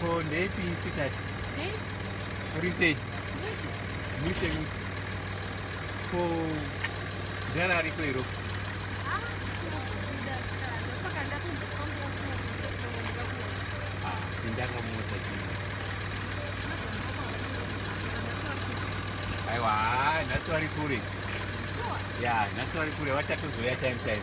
Ko ndeipi sweetheart? Hey. What do you say? Mushe. Mushe mushe. Ko jana ariko iro. Ah, ndanga mota chini. Aiwa, nhasi vari kure. Sure. Yeah, nhasi vari kure vachatozouya time time.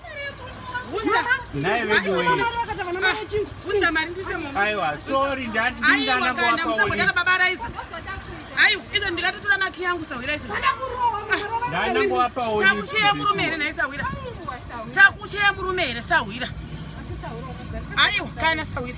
Naye wedu wewe. Unza mari ndise mombe. Aiwa, sorry ndati ndingana kwa kwa. Aiwa, kana baba Raiza. Aiwa, izo ndikatotora maki yangu sawira izo. Kana kurowa. Ndana kwa pa oyi. Takushaya murume here naye sawira. Takushaya murume here sawira. Aiwa, kana sawira.